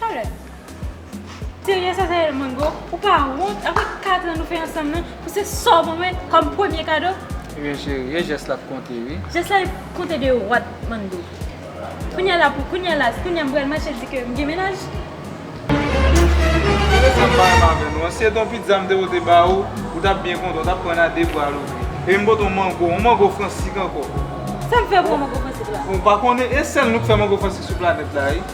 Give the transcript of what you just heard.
Talè. Serye sa se mango? Ou pa wont aprè 4 ans nou fè ansanm nan pou se sa w ban mwen kòm premye kado? Ebyen cheri e jès la k konte wi. Jès la ap konte de what Manno? Kounya la pou kounya la kounya m pral mache di ke m gen mennaj? Gade sa m pa renmen avè nou an, si se t yon pizza m te pote ba ou, ou t ap byen kontan, ou t ap pran l a 2 bra louvri. Ebyen m pote yon mango, yon mango fransik ankò. Sa m fè pou yon mango fransik la? Ou pa konnen e sèl nou k fè mango fransik sou planèt la wi.